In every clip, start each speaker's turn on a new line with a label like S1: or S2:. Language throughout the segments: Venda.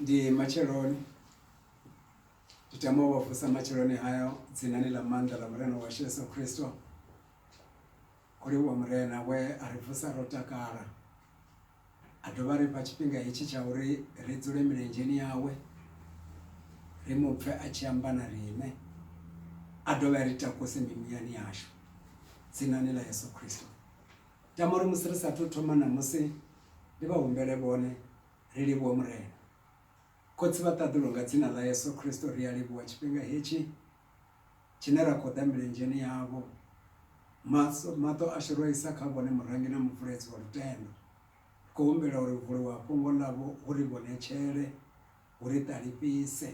S1: Ndi matsheloni ndi tama u vha vusa matsheloni hayo dzinani ḽa maanḓa ḽa Murena washu Yesu Khristo. Kho livhuwa Murena we a ri vusa ro takala a dovha a ri fha tshifhinga hetshi tsha uri ri dzule milenzheni yawe ri mu pfhe a tshi amba na riṋe a dovhe a ri takuse mimuyani yashu dzinani ḽa Yeso Khristo. tama uri musi ri sathu thoma ṋamusi ndi vha humbele vhone ri livhuwe Murena. Khotsi vha ṱaḓulu nga dzina ḽa Yesu Kristo ri a livhuwa tshifhinga hetshi tshine ra khou ḓa milenzheni yavho maso maṱo ashu ro isa kha vhone murangi na mubvuledzi wa lutendo ri khou humbela uri vuliwa fhungo ḽavho hu ri vhonetshele hu ri ṱalifhise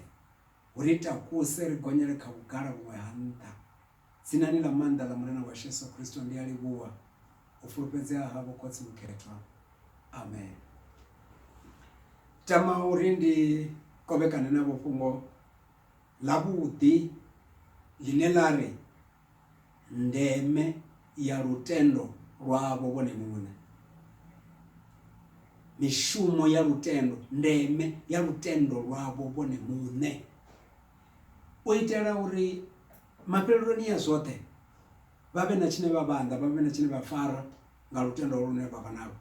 S1: hu ri takuse ri gonyele kha vhugala vhuṅwe ha nṱha Dzinani ḽa maanḓa ḽa Mulena washu Yesu Kristo, ndi a livhuwa u fulufhedzea havho Khotsi Mukhethwa. Amen. Tama uri ndi kovhekane navho fhungo ḽavhuḓi ḽine ḽa ri ndeme ya lutendo lwavho vhone muṋe. Mishumo ya lutendo, ndeme ya lutendo lwavho vhone muṋe. u itela uri mafheleloni a zwoṱhe vha vhe na tshine vha vhanḓa vha vhe na tshine vha fara nga lutendo lune vha vha nalo.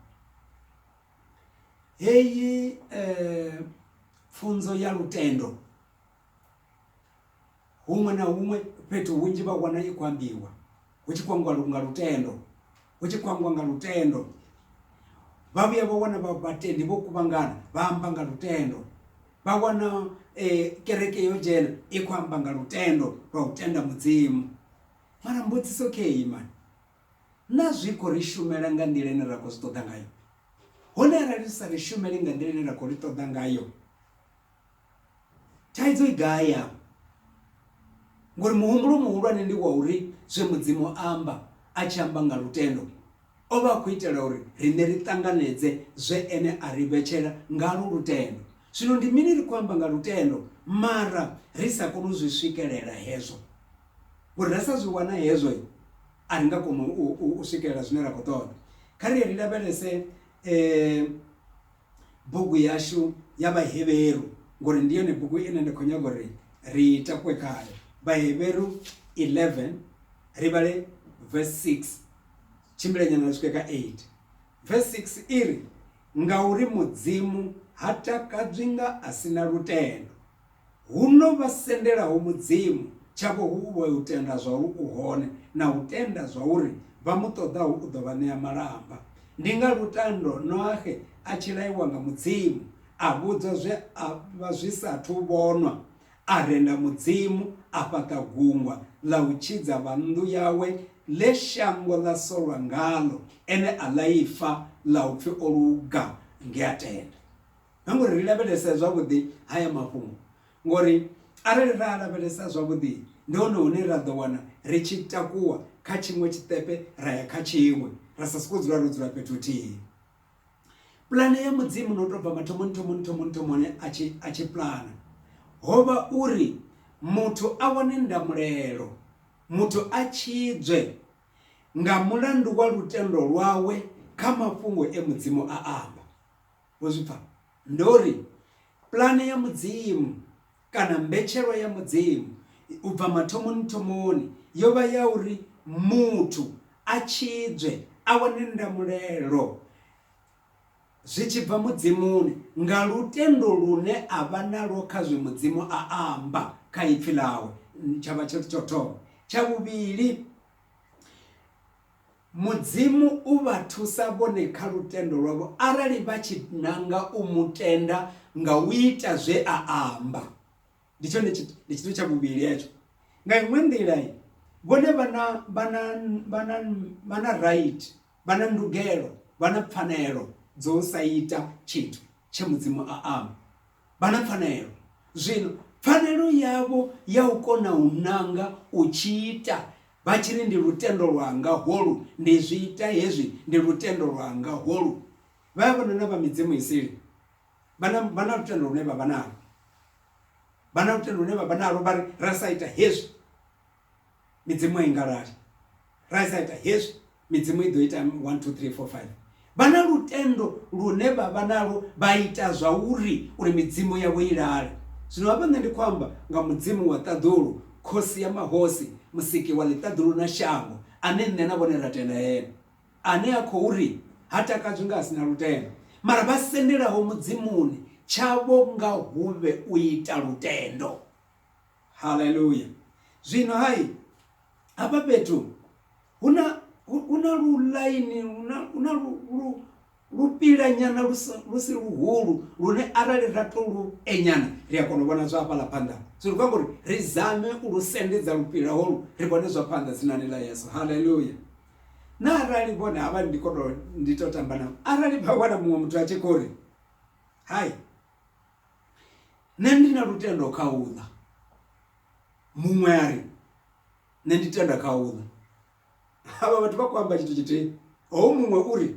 S1: Heyi pfunzo ya lutendo huṅwe na huṅwe fhethu hunzhi vha wana i khou ambiwa hu tshi khou ambiwa nga lutendo hu tshi khou ambiwa nga lutendo vha vhuya vha wana vhatendi vho kuvhangana vha amba nga lutendo vha wana um kereke yo dzhena i khou amba nga lutendo lwa u tenda mudzimu mara mbudziso khe imani na zwi khou ri shumela nga nḓila ine ra khou zwi ṱoḓa ngayo hone arali ri sa ri shumeli nga nḓila ine ra khou ri ṱoḓa ngayo Thaidzo i gai afha? Ngori muhumbulo muhulwane ndi wa uri zwe Mudzimu a amba a tshi amba nga lutendo, o vha a khou itela uri riṋe ri ṱanganedze zwe ene a ri vhetshela ngalwo lutendo. Zwino ndi mini ri khou amba nga lutendo mara ri sa koni u zwi swikelela hezwo? Ngori ra sa zwi wana hezwo a ri nga koni u swikelela zwine ra khou ṱoḓa. Kha ri ye ri lavhelese . bugu yashu ya vhaheveru ngori ndi yone bugu ine nda khou nyaga uri ri takuwe khayo vhaheveru 11 ri vhale verse 6 tshimbilenyana ri swike ka 8 verse 6 i ri ngauri mudzimu ha takadzwi nga a si na lutendo Huno vha sendelaho Mudzimu, tshavho hu u vha u tenda zwauri u hone na u tenda zwauri vha mu ṱoḓaho u ḓo vha ṋea malamba. Ndi nga lutendo Noaxe a tshi laiwa nga Mudzimu, a vhudzwa zwe a vha zwi sa athu vhonwa, a renda Mudzimu, a fhaṱa gungwa ḽa u tshidza vha nnḓu yawe ḽe shango ḽa solwa ngaḽo, ene a ḽaifa ḽa u pfi o luga nge a tenda. na ngori ri lavhelese zwavhuḓi haya mafhungo ngori arali ra lavhelesa zwavhuḓi ndi hone hune ra ḓo wana ri tshi takuwa kha tshiṅwe tshiṱepe ra ya kha tshiṅwe ra sa soko dzula ro dzula fhethu thihi pulane ya mudzimu no tobva mathomoni thomoni thomoni thomoni a tshi a tshi pulana hovha uri muthu a wane ndamulelo muthu a tshidzwe nga mulandu wa lutendo lwawe kha mafhungo e mudzimu a amba Wo zwi pfa? Ndo ri, Pulane ya Mudzimu, kana mbetshelwa ya Mudzimu, u bva mathomoni-thomoni, yo vha ya uri muthu a tshidzwe, a wane ndamulelo zwi tshi bva Mudzimuni, nga lutendo lune a vha nalwo kha zwe Mudzimu a amba kha Ipfi Ḽawe. Tsha vha tsho thoma. Tsha vhuvhili, Mudzimu u vha thusa vhone kha lutendo lwavho arali vha tshi nanga u mu tenda nga u ita zwe a amba. Ndi tshone ndi tshithu tsha vhuvhili hetsho. Nga iṅwe nḓila vhone vha na vha na vha na vha na right vha na ndugelo vha na pfanelo dzo sa ita tshithu tshe mudzimu a amba vha na pfanelo zwino pfanelo yavho ya u kona u nanga u tshi ita Vha tshi ri, Ndi lutendo lwanga holu, ndi zwi ita hezwi, ndi lutendo lwanga holu. Vha ya vhona na vha midzimu i sili, vha na, vha na lutendo lune vha vha nalwo. Vha na lutendo lune vha vha nalwo, vha ri, Ra sa ita hezwi, midzimu a i nga lali, ra sa ita hezwi, midzimu i ḓo ita 1 2 3 4 5 vha na lutendo lune vha vha nalo vha ita zwa uri uri midzimu yavho i lale zwino hafha nṋe ndi khou amba nga mudzimu wa ṱaḓulu khosi ya mahosi musiki wa ḽiṱaḓulu na shango ane nṋe na vhone ra tenda ene ane a khou ri ha takadzwi nga a si na lutendo mara vha sendelaho mudzimuni tshavho nga huvhe u ita lutendo haleluya zwino hai hafha fhethu hu na hu na lu ḽaini hu na hu na lu lu lupila nyana lu si lu si luhulu lune arali ra to lu enyana ri a kona u vhona zwa hafhaḽa phanḓa so ri khou amba uri ri zame u lu sendedza lupila holu ri vhone zwa phanḓa dzinani ḽa yeso haleluya na arali vhone havha ndi khou to ndi to tamba navho arali vha wana muṅwe muthu a tshi khou ri hai nṋe ndi na lutendo kha uḽa muṅwe a ri Nṋe ndi tenda kha u ḽa. Avha vhathu vha khou amba tshithu tshithihi. Hoyu muṅwe u ri,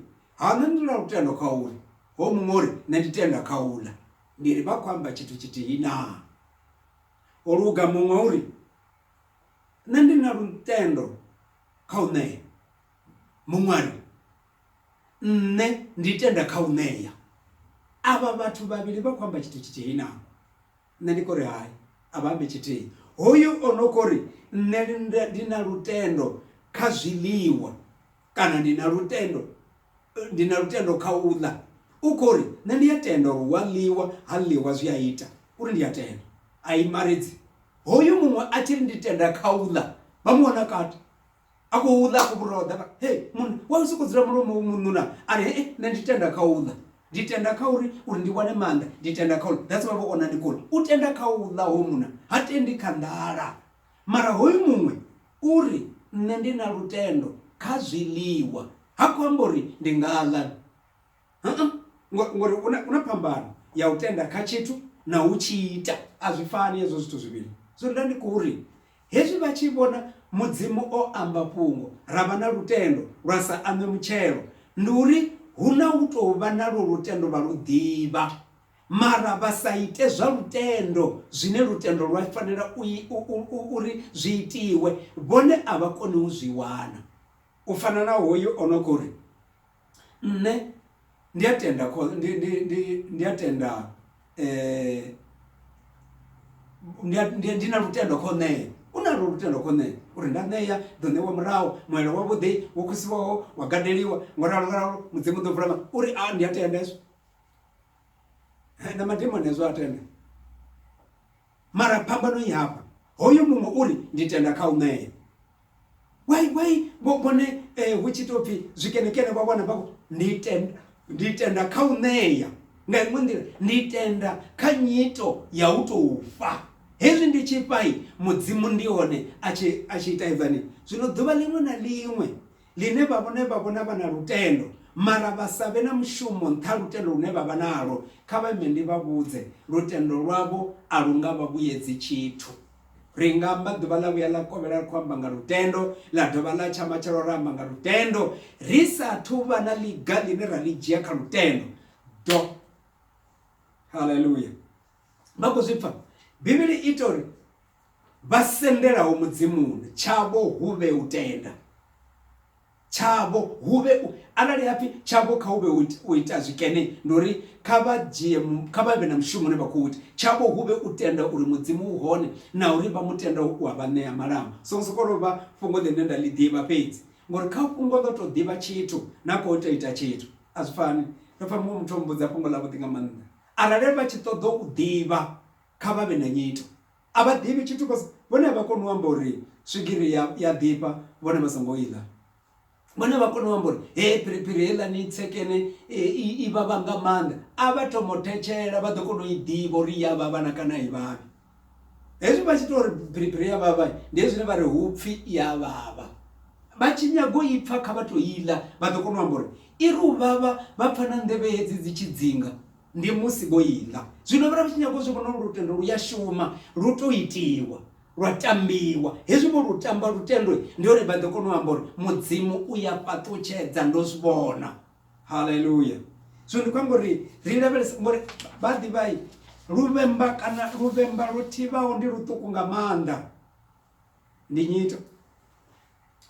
S1: Ha, nṋe ndi na lutendo kha u ḽa. Hoyu muṅwe u ri, Nṋe ndi tenda kha u ḽa. Ndi ri, Vha khou amba tshithu tshithihi naa? Ho luga muṅwe u ri, Nṋe ndi na lutendo kha u ṋea. Muṅwe a ri, Nṋe ndi tenda kha u ṋea. Avha vhathu vhavhili vha khou amba tshithu tshithihi naa? Nṋe ndi khou ri hai, a vha ambi tshithihi. Hoyu o no khou ri, Nṋe ndi na lutendo kha zwiḽiwa kana ndi na lutendo, ndi na lutendo kha u ḽa, u khou ri, Nṋe ndi a tenda uri hu a ḽiwa, ha ḽiwa zwi a ita uri ndi a tenda. A imaredzi. Hoyu muṅwe a tshi ri, Ndi tenda kha u ḽa, vha mu wana kati. a khou ḽa a khou vhuroḓa vha he munna wa u sokou dzula mulomo u mununa a ri hee nṋe ndi tenda kha u ḽa ndi tenda kha uri uri ndi wane maanḓa ndi tenda kha u ḽa that's why vho ona ndi khou ḽa u tenda kha u ḽa hoyu munna ha tendi kha nḓala mara hoyu muṅwe uri nṋe ndi na lutendo kha zwiḽiwa ha khou amba uri ndi nga ḽa ngori una phambano ya u tenda kha tshithu na u tshi ita a zwi fani hezwo zwithu zwivhili so nda ndi khou ri hezwi vha tshi vhona mudzimu o amba fhungo ra vha na lutendo lwa sa ame mutshelo ndi uri hu na u tou vha na lwo lutendo vha lu ḓivha mara vha sa ite zwa lutendo zwine lutendo lwa fanela uri zwi itiwe vhone a vha koni u zwi wana u fana na hoyu o no khou ri nṋe ndi a tenda ndi ndi ndi ndi a tenda eh ndi ndi ndi na lutendo kho ṋea u na lutendo kho ṋea uri nda ṋea ḓo ṋewa murahu muelo wa vhuḓi wo khosiwaho wa gadeliwa ngo ralo nga ralo mudzimu ḓo vula uri a ndi a tenda hezwo na madimoni hezwo a tenda. Mara phambano i hafha, hoyu muṅwe u ri, Ndi tenda kha u ṋea. Wai, wai, vho vhone eh, hu tshi tou pfi zwikenekene vha wana vha khou, Ndi tenda, ndi tenda kha u ṋea. Nga iṅwe nḓila, ndi tenda kha nyito ya u tou fha. Hezwi ndi tshi fha, Mudzimu ndi hone a tshi, a tshi ita edzani. Zwino ḓuvha ḽiṅwe na ḽiṅwe ḽine vha vhone vha vhona vha na lutendo mara vha sa vhe na mushumo nṱha ha lutendo lune vha vha nalwo, kha vha ime ndi vha vhudze, lutendo lwavho a lu nga vha vhuyedzi tshithu. Ri nga amba ḓuvha ḽa vhuya ḽa kovhela ri khou amba nga lutendo, ḽa dovha ḽa tsha matshelo ra amba nga lutendo, ri sa athu vha na ḽiga ḽine ra ḽi dzhia kha lutendo. Do. Haleluya! Vha khou zwi pfa. Bivhili i ita uri vha sendelaho mudzimuni tshavho hu vhe u tenda tshavho hu vhe arali hapfi tshavho kha hu vhe u ita zwikene ndi uri kha vha dzhie kha vha vhe na mushumo une vha khou ita tshavho hu vhe u tenda uri mudzimu u hone na uri vha mu tenda u a vha ṋea malamba songo sokou tou vha fhungo ḽine nda ḽi ḓivha fhedzi ngori kha fhungo ḽo tou ḓivha tshithu na khou tou ita tshithu a zwi fani ndo pfa muṅwe muthu o mbudza fhungo ḽavhuḓi nga maanḓa Arali vha tshi ṱoḓa u ḓivha, kha vha vhe na nyito. A vha ḓivhi tshithu vha sa. Vhone a vha koni u amba uri swigiri ya, ya ḓifha vhone vha songo i ḽa. Vhone a vha koni u amba uri hee phiriphiri heiḽani tsekene i, i vhavha nga maanḓa. A vha thoma u thetshela vha ḓo kona u i ḓivha uri i ya vhavha na kana a i vhavhi. hezwi vha tshi ita uri biribiri ya vhavha ndi hezwi zwine vha ri hu pfhi i ya vhavha vha tshi nyago i pfha kha vha tou iḽa vha ḓo kona u amba uri i ri u vhavha vha pfha na nḓevhe hedzi dzi tshi dzinga ndi musi vho iḽa zwino vha tshi nyago zwi vhona uri lutendo lu ya shuma lu tou itiwa lwa tambiwa hezwi vho lu tamba lutendo ndi hone vha ḓo kona u amba uri mudzimu u ya fhaṱutshedza ndo zwi vhona haleluya zwino ndi khou amba uri ri lavhelesa ngori vha ḓivhai luvhemba kana luvhemba lu thivhaho ndi luṱuku nga maanḓa ndi nyito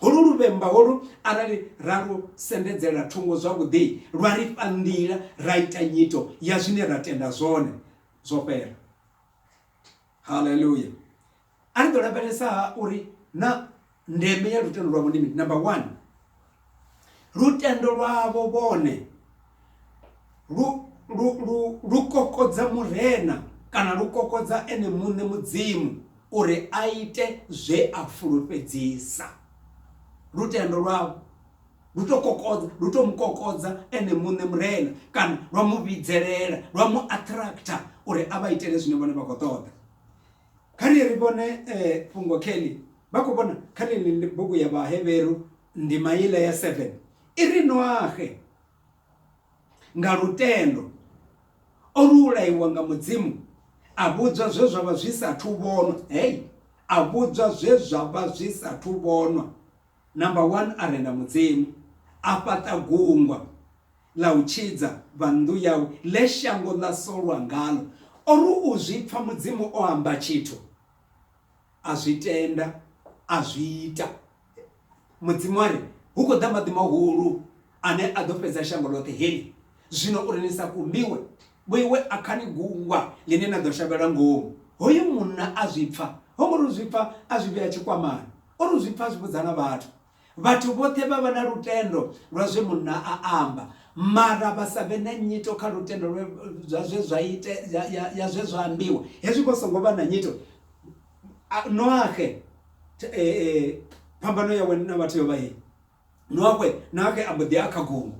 S1: holu luvhemba holu arali ra lu sendedzela thungo zwavhuḓi lwa ri fha nḓila ra ita nyito ya zwine ra tenda zwone zwo fhela haleluya a ri ḓo lavhelesa ha uri na ndeme ya lutendo lwavho ndi mini number one lutendo lwavho vhone lu lu lu lu kokodza murena kana lu kokodza ene muṋe mudzimu uri a ite zwe a fulufhedzisa lutendo lwavho lu to kokodza lu to mukokodza ene muṋe murena kana lwa mu vhidzelela lwa mu attractor uri a vha itele zwine vhone vha khou ṱoḓa kha ri ri vhone eh, fhungo kelly vha khou vhona kha ḽeneḽi bugu ya vhaheveru ndima iḽa ya seven i ri noahe nga lutendo o lu ulaiwa nga mudzimu a vhudzwa zwe zwa vha zwi sathu vhonwa hei a vhudzwa zwe zwa vha zwi sathu vhonwa Number one a renda Mudzimu, a fhaṱa gungwa ḽa u tshidza vha nnḓu yawe ḽe shango ḽa solwa ngaḽo. O ri u zwi pfa Mudzimu o amba tshithu, a zwi tenda, a zwi ita. Mudzimu a ri, Hu khou ḓa maḓi mahulu. ane a ḓo fhedza shango ḽoṱhe heḽi. Zwino uri ni sa kumbiwe, vhoiwe a kha ni gungwa ḽine na ḓo shavhelwa ngomu. Hoyu munna a zwi pfa, ho ngo tou zwi pfa a zwi vhea tshikwamani, o tou zwi pfa a zwi vhudza na vhathu. Vhathu vhoṱhe vha vha na lutendo lwa zwe munna a amba, mara vha sa vhe na nyito kha lutendo lwe zwa zwe zwa ite ya, ya, ya zwe zwa ambiwa. Hezwi vho songo vha na nyito, a, Noaxe, e, e, phambano yawe na vhathu yo vha hei. lwawe nake a mbo ḓi a kha gungu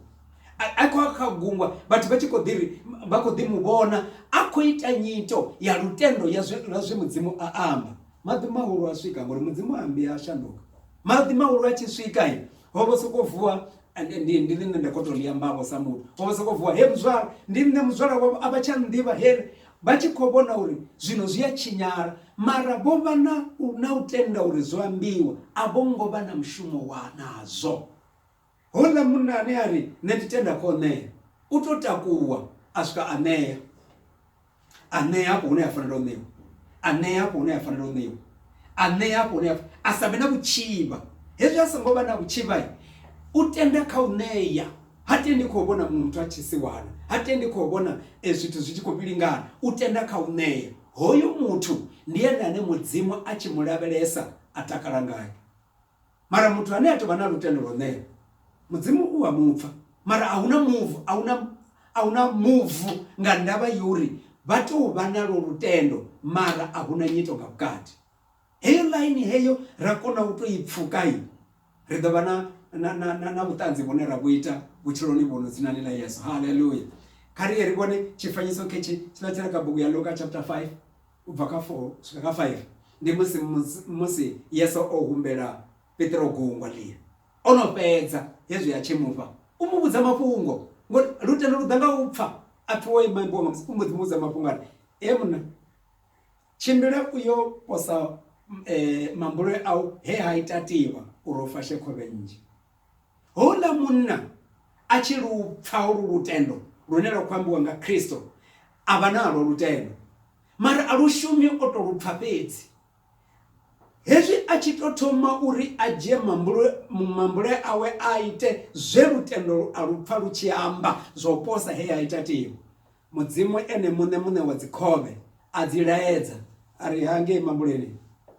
S1: a khou a kha gungwa vhathu vha tshi khou ḓi ri vha khou ḓi mu vhona a khou ita nyito ya lutendo ya zwe lwa zwe mudzimu a amba maḓi mahulu a swika ngori mudzimu a ambi a shanduka maḓi mahulu a tshi swika i ho vho sokou vuwa ndi ndi nṋe nda khou tou ḽi ambavho sa muthu ho vho sokou vuwa he muzwala ndi nṋe muzwala wavho a vha tsha nnḓivha he Vha tshi khou vhona uri zwino zwi a tshinyala, mara vho vha na u, na u tenda uri zwo ambiwa, a vho ngo vha na mushumo wa nazwo. Houḽa munna ane a ri, Nṋe ndi tenda kha u ṋea, u tou takuwa a swika a ṋea. A ṋea hafho hune ha fanela u ṋeiwa, a ṋea hafho hune ha fanela u ṋeiwa, a ṋea hafho hune ha, a sa vhe na vhutshivha. Hezwi a songo vha na vhutshivha, u tenda kha u ṋea. Ha tendi kha u vhona muṅwe muthu a tshi siwana. Ha tendi kha u vhona zwithu zwi tshi khou vhilingana. U tenda kha u ṋea. Hoyu muthu ndi ene ane Mudzimu a tshi mu lavhelesa a takala ngae. Mara muthu ane a tou vha na lutendo lwa u ṋea, Mudzimu u a mu pfa. Mara a hu na muvu, a hu na, a hu na muvu nga ndavha ya uri vha tou vha nalwo lutendo mara a hu na nyito nga vhukati. Heyo ḽaini heyo ra kona u tou i pfuka, ri ḓo vha na, na, na, na, na vhuṱanzi vhune ra vhu ita vhutshiloni vhuno dzinani ḽa Yesu. Haleluya! Kha ri ye ri vhone tshifanyiso khetshi tshiḽa tshi re kha bugu ya Luka chapter 5 u bva kha 4 swika kha 5. Ndi musi, musi Yesu o humbela Petro gungwa ḽia. O no fhedza hezwi a tshi mu fha, u mu vhudza mafhungo, ngori lutendo lu ḓa nga u pfa. A pfi wo ima, imbwa nga musi. U mbo ḓi mu vhudza mafhungo a ri, Hee munna! Tshimbila u yo posa mambule au he ha ita tivha uri u fashe khovhe nnzhi. Houḽa munna a tshi lu pfa holu lutendo lune lwa khou ambiwa nga Kristo, a vha nalwo lutendo, mara a lu shumi, o tou lu pfa fhedzi. Hezwi a tshi tou thoma uri a dzhie mambule, mambule awe a ite zwe lutendo a lu pfa lu tshi amba zwa u posa he ha ita tivha. Mudzimu Ene muṋe, Muṋe wa dzikhovhe, a dzi laedza, a ri, Ha ngei mambuleni.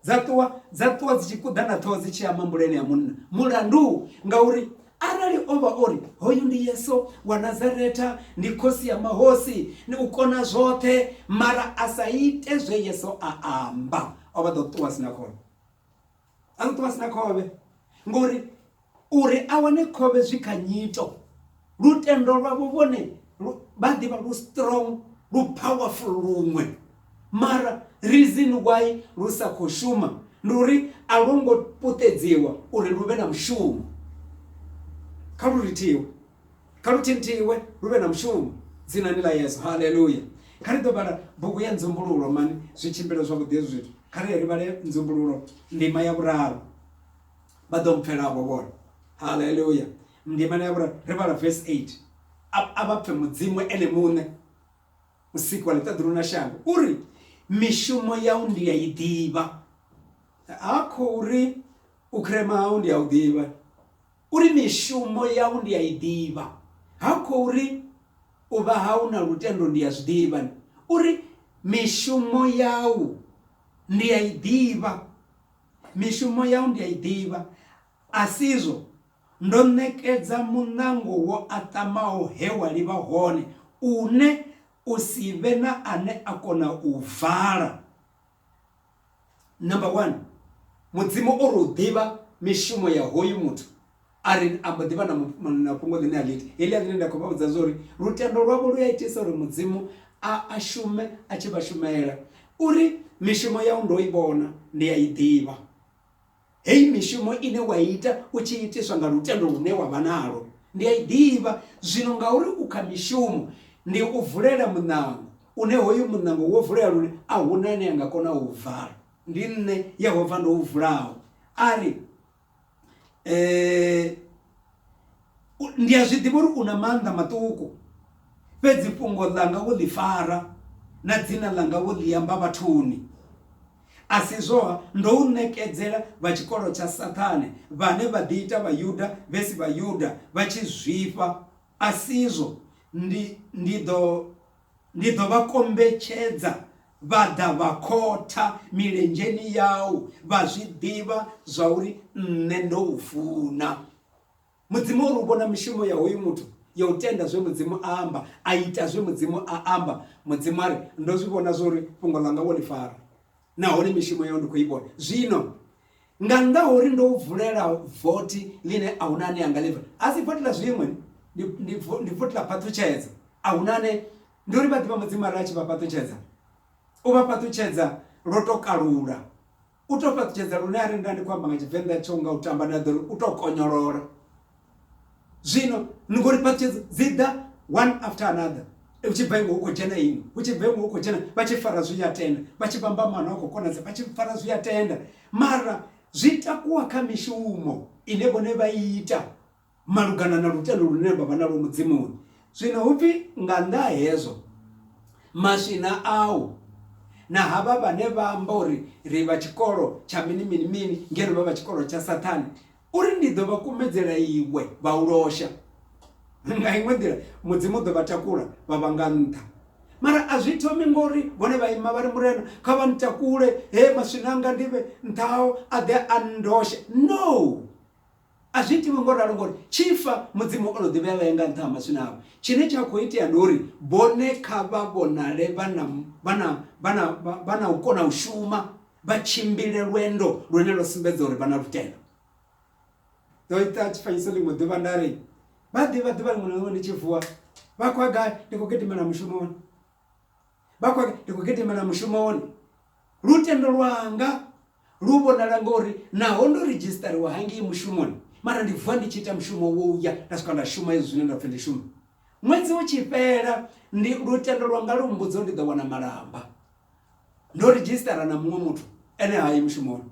S1: Dza ṱuwa, dza ṱuwa dzi tshi kuḓa na ṱhoho dzi tshi ya mambuleni a munna. Mulandu, ngauri arali o vha o ri, Hoyu ndi Yesu wa Nazaretha, ndi Khosi ya mahosi, ndi u kona zwoṱhe, mara a sa ite zwe Yesu a amba, o vha ḓo ṱuwa a si na khono. a ṱuṱu vha si na khovhe ngori uri a wane khovhe zwi kha nyito lutendo lwavho vhone vha ḓivha lu strong lu powerful luṅwe mara reason why lu sa khou shuma ndi uri a lwo ngo puṱedziwa uri lu vhe na mushumo kha lu rithiwe kha luthinthiwe lu vhe na mushumo dzinani ḽa yesu haleluya kha ri ḓo vhala bugu ya nzumbululo mani zwi tshimbila zwavhuḓi hezwi zwithu kha ri ri vhale nzumbululo ndima ya vhuraru vha ḓo mpfelavho vhone haleluya ndimana ya vhuraru ri vhala verse 8 a vha pfe mudzimu ene muṋe musiki wa ḽiṱaḓulu na shango uri mishumo yau ndi ya i ḓivha ha khou ri u khirema hau ndi ya u ḓivha U ri, Mishumo yau ndi a i ḓivha. Ha khou ri, U vha hau na lutendo ndi a zwi ḓivha. U ri, Mishumo yau ndi a i ḓivha. Mishumo yau ndi a i ḓivha, a si izwo? Ndo ṋekedza muṋango wo aṱamaho he wa livha hone, une u si vhe na ane a kona u u vala. number one mudzimu o ri u ḓivha mishumo ya hoyu muthu a ri a mbo ḓivha na fhungo ḽine a ḽi ita heḽia ḽine nda khou vha vhudza zwa uri lutendo lwavho lu a itisa uri mudzimu a a shume a tshi vha shumela uri mishumo yau ndo i vhona ndi a i ḓivha Heyi mishumo ine wa ita u tshi itiswa nga lutendo lune wa vha nalwo, ndi a i ḓivha. Zwino ngauri u kha mishumo, ndi u vulela muṋango, une hoyu muṋango wo vulea lune a hu na ane a nga kona u u vala. Ndi nṋe Yehova ndo u vulaho, a ri. Ndi a zwi ḓivha uri u na maanḓa maṱuku, fhedzi fhungo ḽanga wo ḽi fara, na dzina ḽanga wo ḽi amba vhathuni. A si izwo-ha, ndo u ṋekedzela vha tshikolo tsha Saṱhane, vhane vha ḓiita Vhayuda vhe si Vhayuda, vha tshi zwifha, a si izwo? Ndi, ndi ḓo, ndi ḓo vha kombetshedza vha ḓa vha khotha milenzheni yau, vha zwi ḓivha zwauri Nṋe ndo u funa. Mudzimu uri u vhona mishumo ya hoyu muthu ya u tenda zwe mudzimu a amba a ita zwe mudzimu a amba mudzimu a ri ndo zwi vhona zwo uri fhungo ḽanga wo ḽi fara nahone mishumo yau ndi khou i vhona zwino nga nnḓa ha uri ndo vulela vothi ḽine a huna ane anga livha a si vothi ḽa zwiṅwe ndi vothi ḽa phaṱutshedza a huna ane ndi uri vha ḓivha mudzimu a ri a tshi vha phaṱutshedza u vha phaṱutshedza lwo to kalula U tou fhaṱutshedza lune arali nda ndi khou amba nga Tshivenḓa tsho nga u tamba nda ḓo ri u tou konyolola. Zwino ni ngori phaṱhutshedzo dzi ḓa one after another hu tshi bva iṅwe hu khou dzhena iṅwe hu tshi bva iṅwe hu khou dzhena vha tshi fara zwi ya tenda vha tshi vhamba maano a khou konadza vha tshi fara zwi ya tenda mara zwi takuwa kha mishumo ine vhone vha ita. malugana na lutendo lune vha vha nalwo Mudzimuni. Zwino hu pfi, Nga nnḓa ha hezwo, maswina au na havha vhane vha amba uri ri vha tshikolo tsha mini-mini-mini ngeno vha vha tshikolo tsha Sathane, u ri ndi ḓo vha kumedzela iwe vha u losha. Nga iṅwe nḓila, Mudzimu u ḓo vha takula vha vha nga nnḓa. Mara a zwi thomi ngo uri vhone vha ima vha ri, Murena, kha vha ntakule, he maswina anga ndi vhe nṱha hao, a ḓe a nndoshe. No! A zwi itiwi ngo ralo ngori tshi fa Mudzimu o no ḓivhea vhae nga nṱha ha maswina avho. Tshine tsha khou itea ndi uri vhone kha vha vhonale vha na vha na vha na vha na u kona u shuma vha tshimbile lwendo lune lwa sumbedza uri vha na lutendo. Ndo ita tshifanyiso ḽiṅwe ḓuvha nda ri vha ḓivha ḓuvha ḽiṅwe na ḽiṅwe ndi tshi vuwa vha khou gai ndi khou gidimela mushumoni vha khou ndi khou gidimela mushumoni lutendo lwanga Lu vhonala nga uri naho ndo ridzhisiṱariwa hangei mushumoni, mara ndi vuwa ndi tshi ita mushumo wo u ya nda swika nda shuma hezwi zwine nda pfi ndi shume. Ṅwedzi u tshi fhela, ndi lutendo lwanga lu mmbudza uri ndi ḓo wana malamba. Ndo ridzhisiṱara na muṅwe muthu, ene ha yi mushumoni.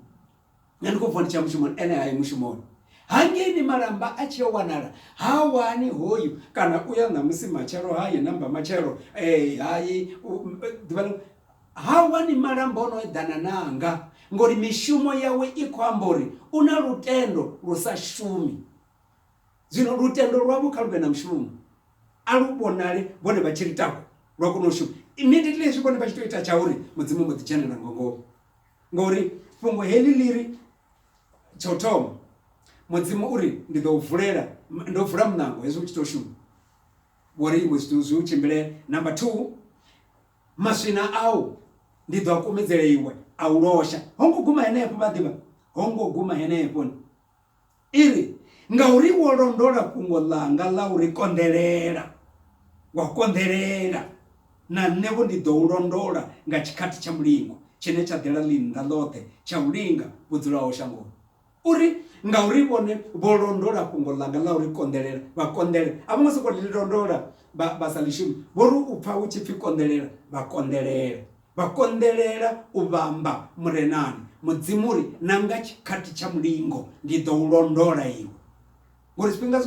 S1: Nṋe ndi khou vuwa ndi tshi ya mushumoni, ene ha yi mushumoni. Hangei ni malamba a tshi yo wanala, ha wani hoyu, kana u ya ṋamusi matshelo ha yi, na mbamatshelo ha yi, ḓuvha ḽiṅwe. Ha wani malamba o no eḓana na anga, ngori mishumo yawe i khou amba uri u na lutendo lu sa shumi. Zwino lutendo lwavho kha lu vhe na mushumo, a lu vhonale vhone vha tshi ri taku lwa kona u shuma. Immediately hezwi vhone vha tshi tou ita tsha uri Mudzimu mbo ḓi dzhenela nga ngomu, ngori fhungo heḽi ḽi ri tsha u thoma Mudzimu u ri ndi ḓo u vulela, ndo vula muṋango hezwi u tshi tou shuma, vho ri iwe zwithu zwi u tshimbile. Number two. Maswina au ndi ḓo a kumedzela iwe, a u losha. Ho ngo guma henefho, vha ḓivha? Ho ngo guma henefho. I ri, Ngauri wo londola fhungo ḽanga ḽa u ri konḓelela, wa konḓelela, na nṋe-vho ndi ḓo u londola nga tshikhathi tsha mulingo, tshine tsha ḓela ḽinnḓa ḽoṱhe tsha u linga vho dzulaho shangoni. U ri, Ngauri vhone vho londola fhungo ḽanga ḽa u ḽi konḓelela, vha konḓela. A vho ngo sokou ḽi londola vha sa ḽi shumi. Vho ri u pfa hu tshi pfi konḓelela, vha konḓelela. Vha konḓelela u vhamba Murenani. Mudzimu u ri, Na nga tshikhathi tsha mulingo ndi ḓo u londola iwe. Ngori zwifhinga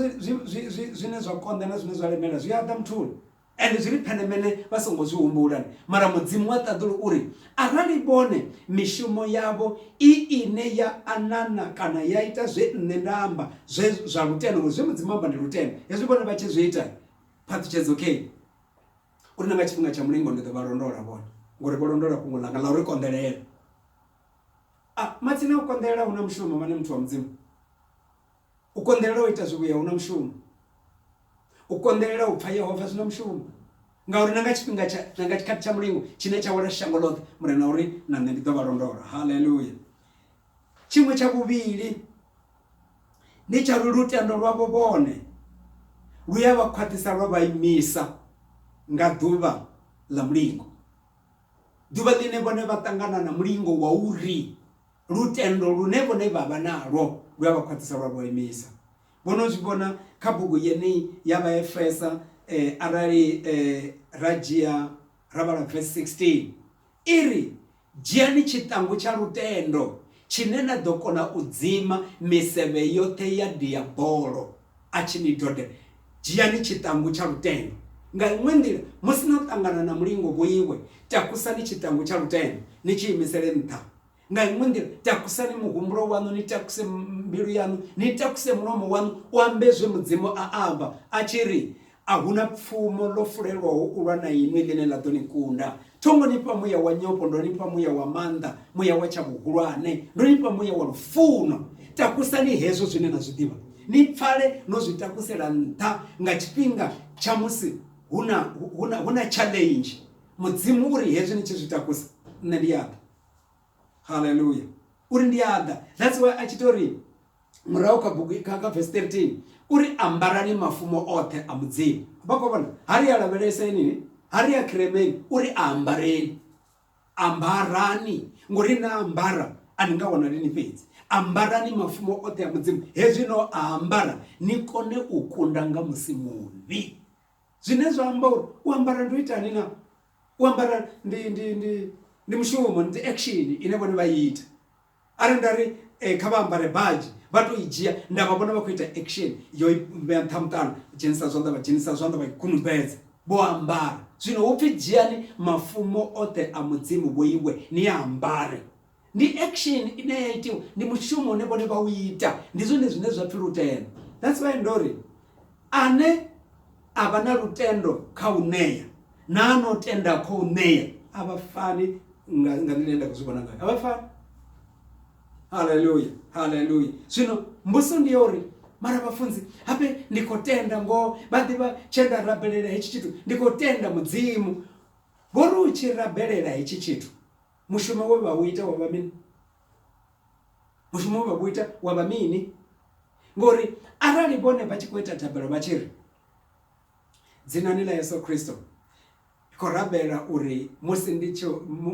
S1: zwine zwa konḓa na zwine zwa lemela zwi a ḓa muthuni. Ende zwi ri phenemele vha songo zwi humbula. Mara Mudzimu wa ṱaḓulu u ri, Arali vhone mishumo yavho i ine ya anana kana ya ita zwe Nṋe nda amba zwe zwa lutendo, ngori zwe Mudzimu a amba ndi lutendo, hezwi vhone vha tshi zwi ita, phaṱhutshedzo khe i uri na nga tshifhinga tsha mulingo ndi ḓo vha londola vhone, ngori vho londola fhungo ḽanga ḽa u ri konḓelela. A, matsina a u konḓelela hu na mushumo, vhana muthu wa Mudzimu. U konḓelela u ita zwivhuya hu na mushumo. U konḓelela u pfa Yehova zwi na mushumo. Ngauri na nga tshifhinga tsha, na nga tshikhathi tsha mulingo tshine tsha wela shango ḽoṱhe, Murena o ri, Na nṋe ndi ḓo vha londola. Haleluya! Tshiṅwe tsha vhuvhili ndi tsha uri lutendo lwavho vhone lu a vha khwaṱhisa lwa vha imisa nga ḓuvha ḽa mulingo, ḓuvha ḽine vhone vha ṱangana na mulingo wa uri Lutendo lune vhone vha vha nalwo lu a vha khwaṱhisa lwa vha imisa. Vho no zwi vhona kha bugu yeneyi ya Vhaefesa arali ra dzhia ra vhala vesi 16, i ri, Dzhiani tshiṱangu tsha lutendo tshine na ḓo kona u dzima misevhe yoṱhe ya Diabolo a tshi ni dodela. Dzhiani tshiṱangu tsha lutendo. Nga iṅwe nḓila, musi no ṱangana na mulingo vhoiwe, takusani tshiṱangu tsha lutendo ni tshi imisele nṱha nga iṅwe nḓila takusani muhumbulo waṋu ni takuse mbilu yaṋu ni takuse mulomo waṋu u ambe zwe mudzimu a amba a tshi ri a hu na pfumo ḽo fulelwaho u lwa na inwi ḽine ḽa ḓo ni kunda thongo ni fha muya wa nyofho ndo ni fha muya wa maanḓa muya wa tsha vhuhulwane ndo ni fha muya wa lufuno takusani hezwo zwine na zwi ḓivha ni pfale no zwi takusela nṱha nga tshifhinga tsha musi hu na challenge mudzimu uri hezwi ni tshi zwi takusa nṋe ndi yaḓa haleluya uri ndi a ḓa that's why a tshi to ri murahu kha bugu kha kha verse 13 uri ambarani mafumo oṱhe a mudzimu vha khou vhona ha ri a lavhelesenini ha ri a khiremeni uri a ambareni ambarani ngori na ambara a ni nga wanali ni fhedzi ambarani mafumo oṱhe a mudzimu hezwi no a ambara ni kone u kunda nga musi muvhi zwine zwa amba uri u ambara ndo itani na u ambara ndi ndi ndi ndi mushumo ndi action ine vhone vha ita arali nda ri eh, kha vha ambare badzhi vha to i dzhia nda vha vhona vha khou ita action yo vhea nṱha muṱano dzhenisa zwanḓa vha dzhenisa zwanḓa vha ikunumbedza vho ambara zwino hu pfi dzhiani mafumo oṱhe a mudzimu vho iwe ni a ambare ndi action ine ya itiwa ndi mushumo une vhone vha u ita ndi zwone zwine zwa pfhi lutendo that's why ndo ri ane a vha na lutendo kha u ṋea na a no tenda kho u ṋea a vha fani nga nga nḓila ine nda khou zwi vhona ngayo a vha fani haleluya haleluya zwino mbuso ndi ya uri mara vhafunzi habe ndi khou tenda ngoho vha ḓivha tshe nda rabelela hetshi tshithu ndi khou tenda mudzimu vho ri u tshi rabelela hetshi tshithu Mushumo we vha u ita wo vha mini? Mushumo we vha vhu ita wa vha mini? Ngori arali vhone vha tshi khou ita thabelo vha tshi ri dzinani ḽa Yesu Kristo khou rabela uri musi ndi tshi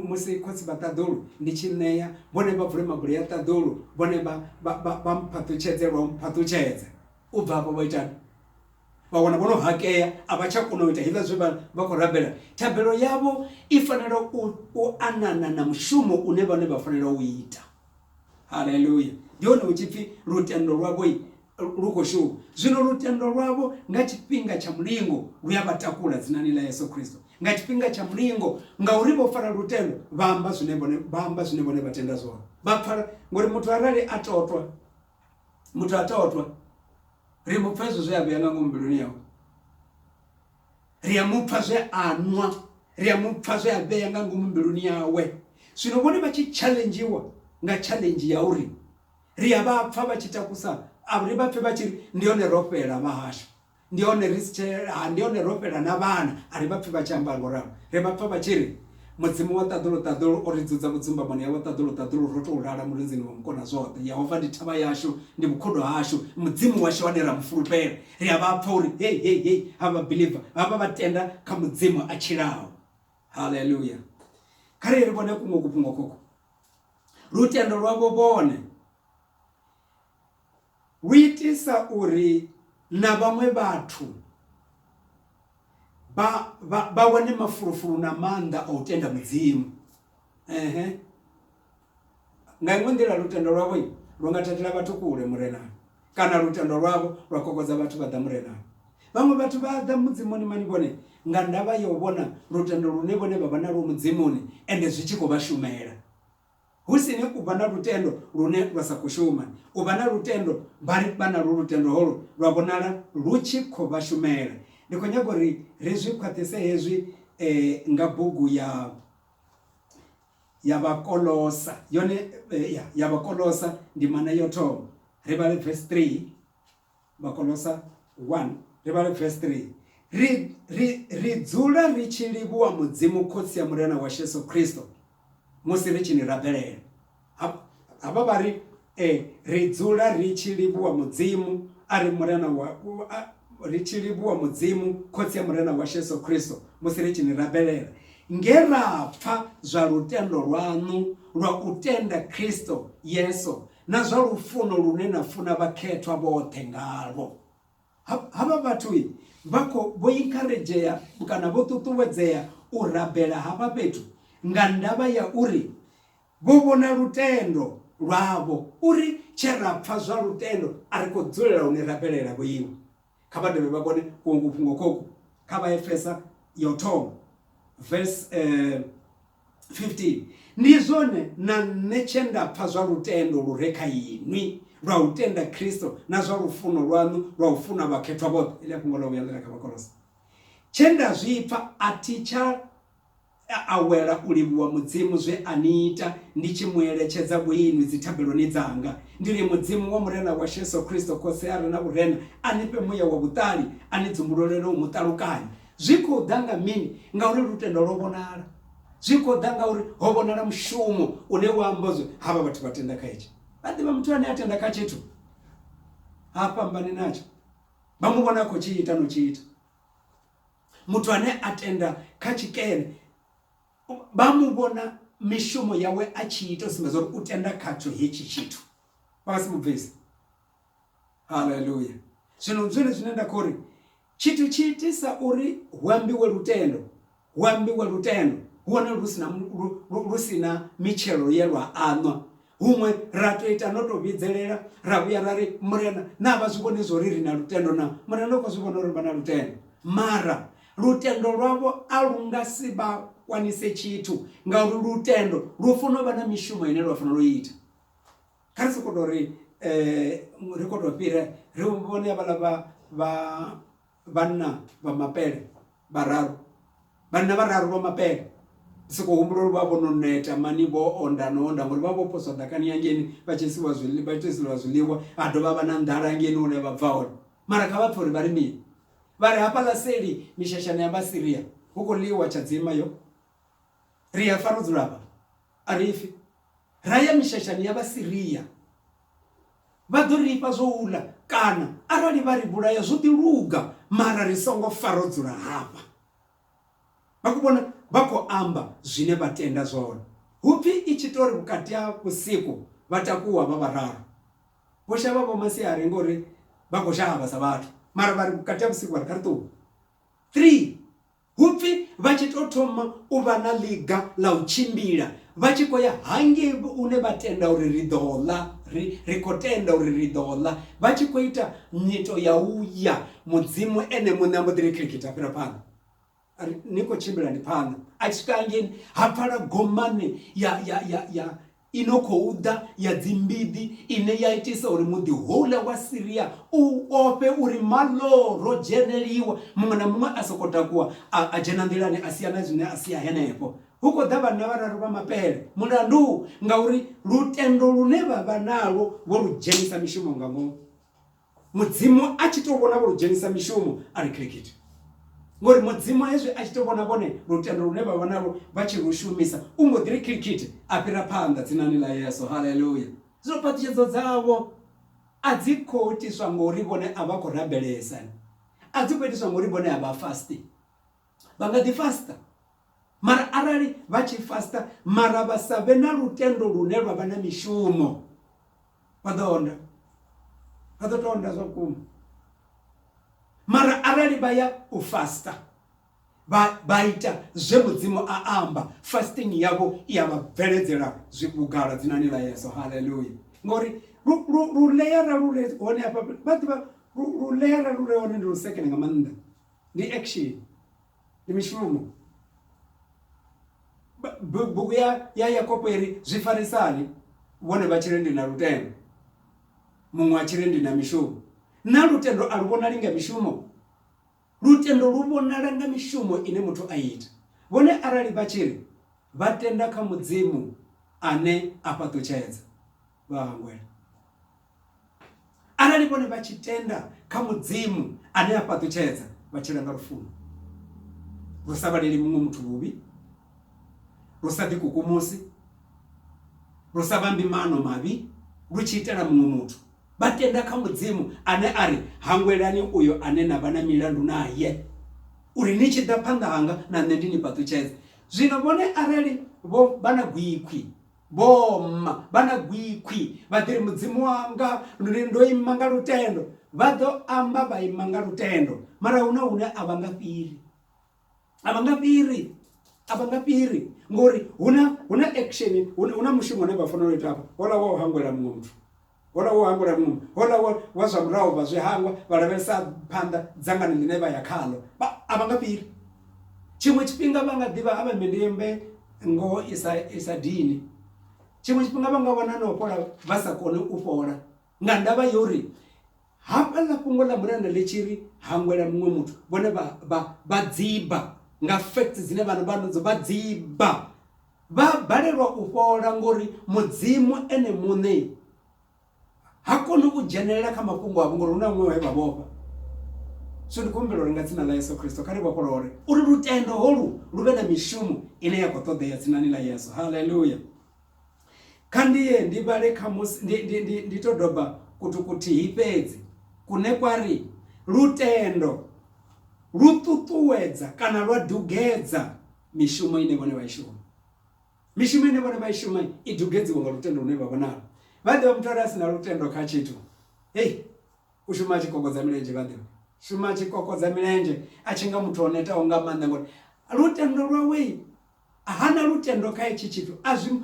S1: musi khotsi vha ṱaḓulu ndi tshi ṋea vhone vha vule mabuli ya ṱaḓulu vhone vha vha vha mphaṱutshedze lwa mphaṱutshedza u bva afho vha itani vha wana vho no hakea a vha tsha kona u ita hezwiḽa zwe vha vha khou rabela thabelo yavho i fanela u u anana na mushumo une vhone vha fanela u ita haleluya ndi hone hu tshi pfhi lutendo lwavho lu khou shuma zwino lutendo lwavho nga tshifhinga tsha mulingo lu a vha takula dzinani ḽa yesu kristo nga tshifhinga tsha mulingo ngauri vho fara lutendo vha amba zwine vhone vha amba zwine vhone vha tenda zwone vha pfala ngori muthu arali a totwa Muthu ha totwa ri mu pfha hezwo zwe a vhea nga ngomu mbiluni yawe ri a mu pfha zwe a nwa ri a mu pfha zwe a vhea nga ngomu mbiluni yawe zwino vhone vha tshi challengewa nga challenge ya uri ri a vha pfha vha tshi takusa a ri vha pfhe vha tshi ri ndi hone ro fhela vha hashu ndi hone ri si tshe ha ndi hone ro fhela na vhana a ri vha pfhi vha tshi amba ngo ralo ri vha pfha vha tshi ri mudzimu wa ṱaḓulu ṱaḓulu o ri dzudza vhudzumbamoni ha wa ṱaḓulu ṱaḓulu ro tou lala mulenzini wa mukona zwoṱhe yehova ndi thavha yashu ndi vhukhudo hashu mudzimu washu wane ra mu fulufhela ri a vha pfha uri hei hei hei ha vha believer ha vha vha tenda kha mudzimu a tshilaho haleluya kha ri ri vhone kuṅwe kufhungo koko lutendo lwavho vhone Lu itisa uri na vhaṅwe vhathu vha, vha, vha wane mafulufulu na maanḓa a u tenda Mudzimu. Ehe. Nga iṅwe nḓila lutendo lwavho lu nga thathela vhathu kule Murenani, kana lutendo lwavho lwa kokodza vhathu vha ḓa Murenani. Vhaṅwe vhathu vha ḓa Mudzimuni mani vhone nga ndavha ya u vhona lutendo lune vhone vha vha nalwo Mudzimuni ende zwi tshi khou vha shumela. Hu si ni u vha na lutendo lune lwa sa khou shuma. U vha na lutendo vha ri vha nalwo lutendo holwo lwa vhonala lu tshi khou vha shumela. Ndi khou nyaga uri ri zwi khwaṱhise hezwi nga bugu ya ya Vhakolosa yone ya Vhakolosa ndimana ya u thoma ri vhale verse 3 Vhakolosa 1 ri vhale vesi 3, Ri, ri, ri dzula ri tshi livhuwa Mudzimu Khotsi ya Murena washu Yesu Kristo musi ri tshi ni rabelela. Hafha vha ri, e, ri dzula ri tshi livhuwa Mudzimu, a ri Murena wa, a, ri tshi livhuwa Mudzimu Khotsi ya Murena washu Yesu Kristo musi ri tshi ni rabelela, nge ra pfa zwa lutendo lwaṋu lwa u tenda Kristo Yesu Na zwa lufuno lune na funa vhakhethwa vhoṱhe ngalwo. Ha, havha vhathu vha kho vho inkaredzhea kana vho ṱuṱuwedzea u rabela havha fhethu nga ndavha ya uri vho vhona lutendo lwavho uri tshe ra pfa zwa lutendo a ri khou dzulela u ni rabelela vho iwe. Kha vha dovhe vha kone kuongu fhungo khoku kha vha Efesa ya u thoma verse eh, 15 ndi zwone na nṋe tshe nda pfa zwa lutendo lu re kha inwi lwa u tenda Kristo na zwa lufuno lwaṋu lwa u funa vhakhethwa vhoṱhe ile fhungo ḽa vhuya ḽi re kha vhakolose tshe nda zwi pfa a thi tsha E awela u livhuwa Mudzimu zwe a ni ita, ndi tshi mu eletshedza vhuinwi dzithabeloni dzanga. Ndi ri, Mudzimu wa Murena washu Yesu Kristo, Khotsi a re na vhurena, a ni fhe muya wa vhuṱali, a ni dzumbululele u mu ṱalukanya. Zwi khou ḓa nga mini? Ngauri lutendo lwo vhonala. Zwi khou ḓa ngauri ho vhonala mushumo une wa amba zwe havha vhathu vha tenda kha hetshi. Vha ḓivha muthu ane a tenda kha tshithu, ha fhambani natsho. Vha mu vhona a khou tshi ita no tshi ita. Muthu ane a tenda kha tshikene vha mu vhona mishumo yawe a tshi ita u sumbedza uri u tenda khatsho hetshi tshithu vha nga si mu bvise. Haleluya! Zwino ndi zwone zwine nda khou ri tshithu tshi itisa uri hu ambiwe lutendo, hu ambiwe lutendo hu hone lu si na lu si na mitshelo ye lwa aṋwa. Huṅwe ra tou ita no tou vhidzelela ra vhuya ra ri murena na vha zwi vhoni zwori ri na lutendo na murena u khou zwi vhona uri vha na lutendo mara lutendo lwavho a lu nga si vha kwanise tshithu ngauri lutendo lu funa u vha na mishumo ine lwa fanela u ita kha ri soko tou ri um ri kho tou fhira ri vhone havhala vha vha vhanna vha mapele vhararu vhanna vhararu vha mapele soko humbula uri vha vho no neta mani vho onda no onda ngori vha vho poswa ḓakani hangeni vha tshi isiwa zwiḽiwa vha tshi isiwa zwiḽiwa ha dovha vha na nḓala hangeni hune vha bva hone mara kha vha pfhe uri vha ri mini vha ri hafhaḽa seli mishashani ya vhasiria hu khou ḽiwa tshadzima yo ri a fa ro dzula hafha a ri fi ra ya mishashani ya vhasiria Vha ḓo ri fha zwo u ḽa, kana arali vha ri vhulaya zwo ḓi luga, mara ri songo fa ro dzula hafha. Vha khou vhona? Vha khou amba zwine vha tenda zwone. Hu pfi i tshi tou ri vhukati ha vhusiku vha takuwa vha vhararu. Vho shavha vho masiari ngori vha khou shavha sa vhathu, mara vha ri vhukati ha vhusiku vha ri kha ri ṱuwe. Three Hu pfi vha tshi tou thoma u vha na ḽiga ḽa u tshimbila vha tshi khou ya hangei hune vha tenda uri ri ḓo ḽa, ri, ri khou tenda uri ri ḓo ḽa, vha tshi khou ita nyito ya u ya, Mudzimu Ene muṋe a mbo ḓi ri khirikitha fhira phanḓa. Ni khou tshimbilani phanḓa. A tshi swika hangei, ha pfala gomane ya, ya, ya, ya, i no khou ḓa ya dzimbiḓi ine ya itisa uri muḓi houḽa wa Siria u ofhe uri maloro dzheneliwa muṅwe na muṅwe a soko takuwa a dzhena nḓilani a sia na zwine a sia henefho hu khou ḓa vhanna vhararu vha mapele mulandu ngauri lutendo lune vha vha nalwo vho lu dzhenisa mishumo nga ngomu Mudzimu a tshi tou vhona vho lu dzhenisa mishumo a ri khirikhithi. Ngori Mudzimu hezwi a tshi tou vhona vhone lutendo lune vha vha nalwo vha tshi lu shumisa, u mbo ḓi ri khirikhithi a fhira phanḓa dzinani ḽa Yesu. Haleluya! Zwino phaṱhutshedzo dzavho a dzi khou itiswa ngori vhone a vha khou rabelesa, a dzi khou itiswa ngori vhone a vha fasti. vha nga ḓi fasta mara arali vha tshi fasta mara vha sa vhe na lutendo lune lwa vha na mishumo vha ḓo onda vha ḓo tou onda zwa vhukuma mara arali vha ya u fasta vha vha ita zwe mudzimu a amba fasting yavho i ya vha bveledzela zwibugala dzina ni la yeso haleluya ngori lu leyara lu re hone hafha vha ḓivha lu leyara lu re hone ndi lusekene nga maanḓa ndi action ndi mishumo bugu ya ya yakobo iri zwi farisani vhone vha tshiri ndi na lutendo muṅwe a tshiri ndi na mishumo na lutendo a lu vhonali nga mishumo lutendo lu vhonala nga mishumo ine muthu a ita vhone arali vha tshiri vha tenda kha mudzimu ane a fhaṱutshedza vha hangwela arali vhone vha tshi tenda kha mudzimu ane a fhaṱutshedza vha tshila nga lufuno lu sa vhaleli muṅwe muthu vhuvhi lu sa ḓikukumusi lu sa vhambi mano mavhi lu tshi itela muṅwe muthu vha tenda kha mudzimu ane a ri hangwelani uyo ane na vha na milandu naye uri ni tshi ḓa phanḓa hanga na nṋe ndi ni fhaṱutshedze zwino vhone arali vho vha na gwikhwi Vhomma vha na gwikhwi vha ḓiri mudzimu wanga ndi ndo ima nga lutendo vha ḓo amba vha ima nga lutendo mara hu na hune a vha nga fhiri a vha nga fhiri a vha nga fhiri ngori hu na hu na action hu na mushumo une vha fanela u ita hafha hola wa u hangwela muṅwe muthu Houḽa wo hangwela muṅwe, houḽa wa, wa zwa murahu, vha zwi hangwa, vha lavhelesa phanḓa dzangano ḽine vha ya khaḽo. Vha, a vha nga fhiri. Tshiṅwe tshifhinga vha nga ḓivha a vha mmbi ndi mmbe ngoho i sa, i sa dini. Tshiṅwe tshifhinga vha nga wana na u fhola vha sa koni u fhola, nga ndavha ya uri hafhaḽa fhungo ḽa Murena ḽi tshi ri hangwela muṅwe muthu, vhone vha, vha, vha dziba nga facts dzine vha, vha nadzo, vha dziba. Vha balelwa u fhola ngori Mudzimu ene muṋe ha koni u dzhenelela kha mafhungo avho ngori hu na muṅwe we vha vhofha. Zwino ndi khou humbela uri nga dzina ḽa Yesu Kristo kha ri vhofholole. Uri lutendo holu lu vhe na mishumo ine ya khou ṱoḓea dzinani ḽa Yesu. Haleluya! Kha ndi ye ndi vhale khamusi ndi, ndi, ndi, ndi to doba kuthu kuthihi fhedzi kune kwa ri, Lutendo lu ṱuṱuwedza kana lwa dugedza mishumo ine vhone vha i shuma mishumo ine vhone vha i shuma i dugedziwa nga lutendo lune vha vhonalo vha ḓivha muthu are a si na lutendo kha tshithu hei u shuma a tshi kokodza milenzhe vha ḓivha shuma a tshi kokodza milenzhe a tshi nga muthu o netaho nga maanḓa ngori lutendo lwawe hana lutendo kha itshi tshithu a zwi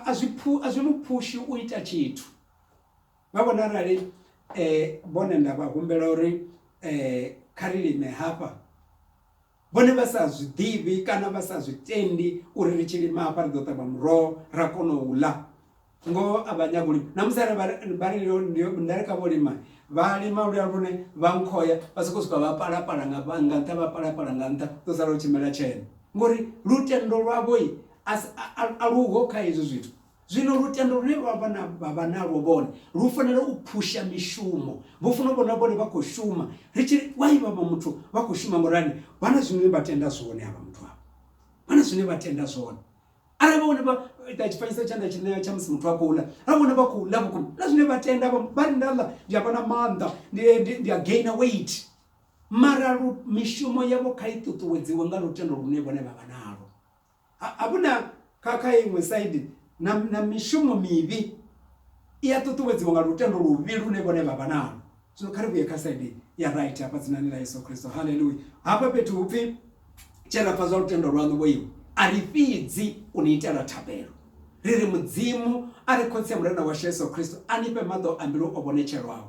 S1: a zwi phu a zwi mu phushi u ita tshithu vha vhona arali eh vhone nda vha humbela uri eh kha ri lime hafha vhone vha sa zwi ḓivhi kana vha sa zwi tendi uri ri tshi lima hafha ri ḓo ṱavha muroho ra kona u ḽa ngoho a vha nyagi u lima namusi are vha ri nda ri kha vho lima vha lima luya lune vha nkhoya vha sokou swika vha palapala nga nga nṱha vha palapala nga nṱha ḓo sala u tshimela tshena ngori lutendo lwavho a luho kha hezwi zwithu Zwino lutendo lune vha vha na, vha vha nalwo vhone, lu fanela u phusha mishumo. Vho funa u vhona vhone vha khou shuma. Ri tshi ri, Why vha vha muthu vha khou shuma ngorani? Vha na zwine vha tenda zwone havha muthu havha. Vha na zwine vha tenda zwone. Arali vha vhone vha ita tshifanyiso tshe nda tshi ṋea tsha musi muthu a khou ḽa, ra vhone vha khou ḽa vhukuma, na zwine vha tenda vha, vha ri nda ḽa ndi a vha na maanḓa, ndi, ndi, ndi a gainer weight. Mara lu, mishumo yavho kha i ṱuṱuwedziwe nga lutendo lune vhone vha vha nalwo. a vhu na kha kha iṅwe saidi na, na mishumo mivhi i a ṱuṱuwedziwa nga lutendo luvhi lune vhone vha vha nalo. Zwino kha ri vhuye kha saidi ya right hafha dzinani ḽa Yesu Kristo. Haleluya! Hafha fhethu hu pfi tshe ra pfa zwa lutendo lwaṋu vho iwe, a ri fhidzi u ni itela thabelo, ri ri Mudzimu a re Khotsi ya Murena washu Yesu Kristo a ni fhe maḓo a mbilu o vhonetshelwaho,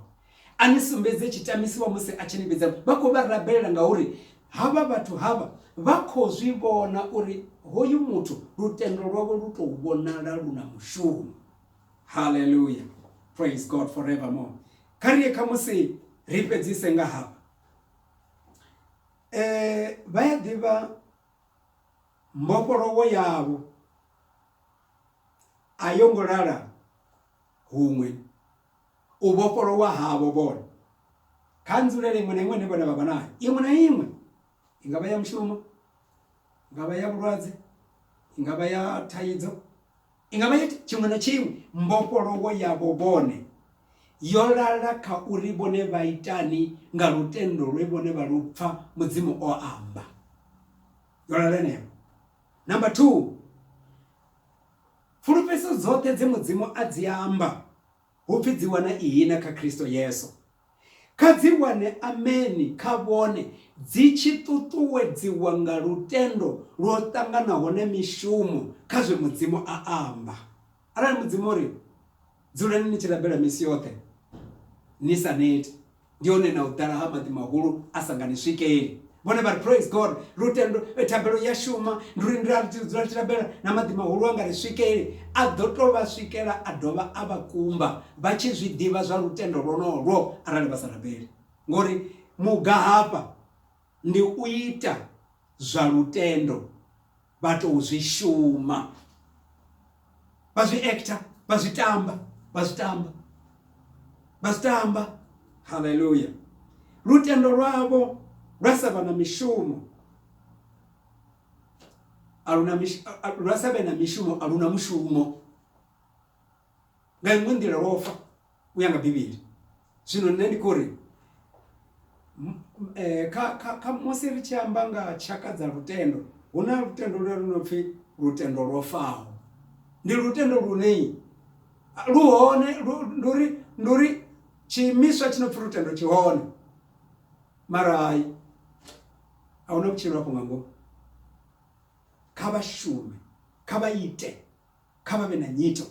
S1: A ni sumbedze tshitamisiwa musi a tshi ni vhidza. Vha khou vha rabelela ngauri havha vhathu havha vha khou zwi vhona uri hoyu muthu lutendo lwawe lu tou vhonala lu na mushumo. Haleluya! Praise God forevermore. Kha ri ye khamusi ri fhedzise nga hafha. E, vha ya ḓivha mbofholowo yavho a yo ngo lala huṅwe. U vhofholowa havho vhone kha nzulele iṅwe na iṅwe ine vhone vha vha nayo, iṅwe na iṅwe, i nga vha ya mushumo, i nga vha ya vhulwadze, i nga vha ya thaidzo, i nga vha ya tshiṅwe na tshiṅwe. Mbofholowo yavho vhone yo lala kha uri vhone vha itani nga lutendo lwe vhone vha lu pfa Mudzimu o amba. Yo lala henefho. Number two, fulufhedzo dzoṱhe dze Mudzimu a dzi amba Hu pfi dzi wana ihina kha Kristo Yesu. Kha dzi wane ameni kha vhone, dzi tshi ṱuṱuwedziwa nga lutendo lwo ṱanganaho na mishumo kha zwe Mudzimu a amba. Arali Mudzimu o ri, Dzulani ni tshi rabela misi yoṱhe ni sa neti, ndi hone na u ḓala ha maḓi mahulu a sa nga ni swikeli vhone vha ri praise god lutendo eh, thabelo ya shuma ndi uri ndira dzula tshi rabela na maḓi mahulu a nga ri swikeli a ḓo to vha swikela a dovha a vha kumba vha tshi zwi ḓivha zwa lutendo lwonolwo arali vha sa rabeli ngori muga hafha ndi u ita zwa lutendo vha tou zwi shuma vha zwi actor vha zwi tamba vha zwi tamba vha zwi tamba haleluya lutendo lwavho lwa sa vha na mishumo aluna lwa sa vhe na mishumo aluna mushumo nga iṅwe nḓila lwo fa u ya nga Bivhili. Zwino nṋe ndi khou ri kha musi ri tshi amba nga tshaka dza lutendo, hu na lutendo lune lu no pfi lutendo lwo faho. Ndi lutendo lune lu hone, ndi uri ndi uri tshiimiswa tshi no pfi lutendo tshi hone, mara hai a hu na vhutshilo afho nga ngomu. Kha vha shume, kha vha ite, kha vha vhe na nyito.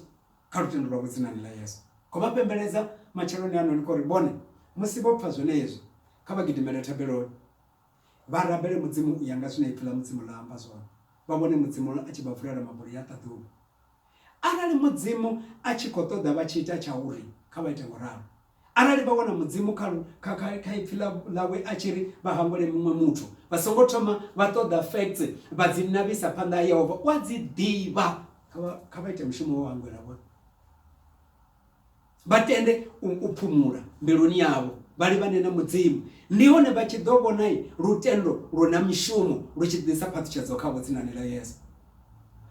S1: kha lutendo lwavho dzinani ḽa Yesu. Khou vha pembeledza matsheloni ano ni khou ri vhone musi vho pfa zwenezwi kha vha gidimele thabeloni vha rabele Mudzimu u ya nga zwine Ipfi ḽa Mudzimu ḽa amba zwone, vha vhone Mudzimu a tshi vha vulela mabuli ya ṱaḓulu. Arali Mudzimu a tshi khou ṱoḓa vha tshi ita tsha u ri kha vha ite ngo ralo, Arali vha wana Mudzimu kha kha kha kha ipfi ḽawe a tshi ri vha hangwele muṅwe muthu vha songo thoma vha ṱoḓa facts vha dzi navhisa phanḓa ha Yehova u a dzi ḓivha kha vha ite mushumo wa hangwela vhone vha tende u phumula mbiluni yavho vha livhane na mudzimu ndi hone vha tshi ḓo vhona lutendo lu na mishumo lu tshi ḓisa phaṱhutshedzo kha vhudzinani ḽa yesu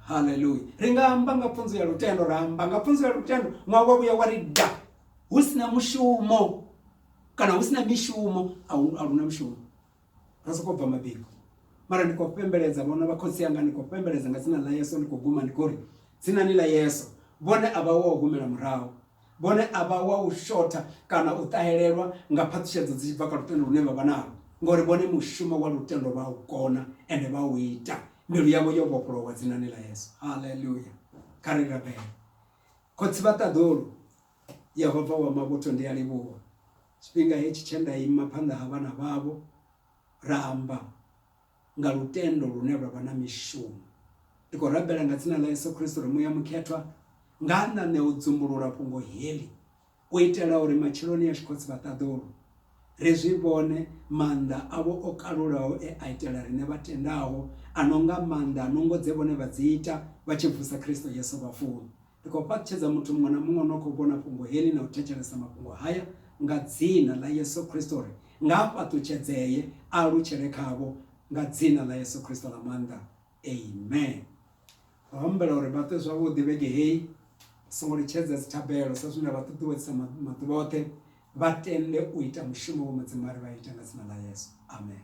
S1: haleluya ri nga amba nga pfunzo ya lutendo ra amba nga pfunzo ya lutendo ṅwaha wa vhuya wa ri da hu si na mushumo kana hu si na mishumo a lu na mushumo ra sokou bva mabiko mara ndi khou pembeledza vhona vha khotsi anga ndi khou pembeledza nga dzina ḽa yeso ndi khou guma ndi khou ri dzinani ḽa yeso vhone a vha wa u humela murahu vhone a vha wa u shotha kana u ṱahelelwa nga phaṱhishedzo dzi tshi bva kha lutendo lune vha vha nalo ngori vhone mushumo wa lutendo vha u kona ende vha u ita mbilu yavho yo vhofholowa dzinani ḽa yeso haleluya kha ri rabele Khotsi vha Ṱaḓulu, Yehova wa mavhuthu, ndi a livhuwa tshifhinga hetshi tshe nda ima phanḓa ha vhana vhavho ra amba nga lutendo lune lwa vha na mishumo. Ndi khou rabela nga dzina ḽa Yesu Kristo uri Muya Mukhethwa nga a ṋaṋe u dzumbulula fhungo heḽi. U itela uri matshiloni ashu khotsi vha ṱaḓulu, ri zwi vhone maanḓa avho o kalulaho e a itela riṋe vha tendaho, a no nga maanḓa a nungo dze vhone vha dzi ita vha tshi vusa Kristo Yesu vhafuni. Ndi khou fhaṱutshedza muthu muṅwe na muṅwe o no khou vhona fhungo heḽi na u thetshelesa mafhungo haya nga Dzina ḽa Yesu Kristo uri nga a fhaṱutshedzee a alutshele khavho nga Dzina ḽa Yesu Kristo ḽa maanḓa. Amen. Ro humbela uri vha ṱwe zwavhuḓi vhege heyi, ri songo litshedza dzithabelo sa zwe na vha ṱuṱuwedzisa maḓuvha oṱhe, vha tende u ita mushumo we Mudzimu a ri vha ite nga dzina ḽa Yesu. Amen.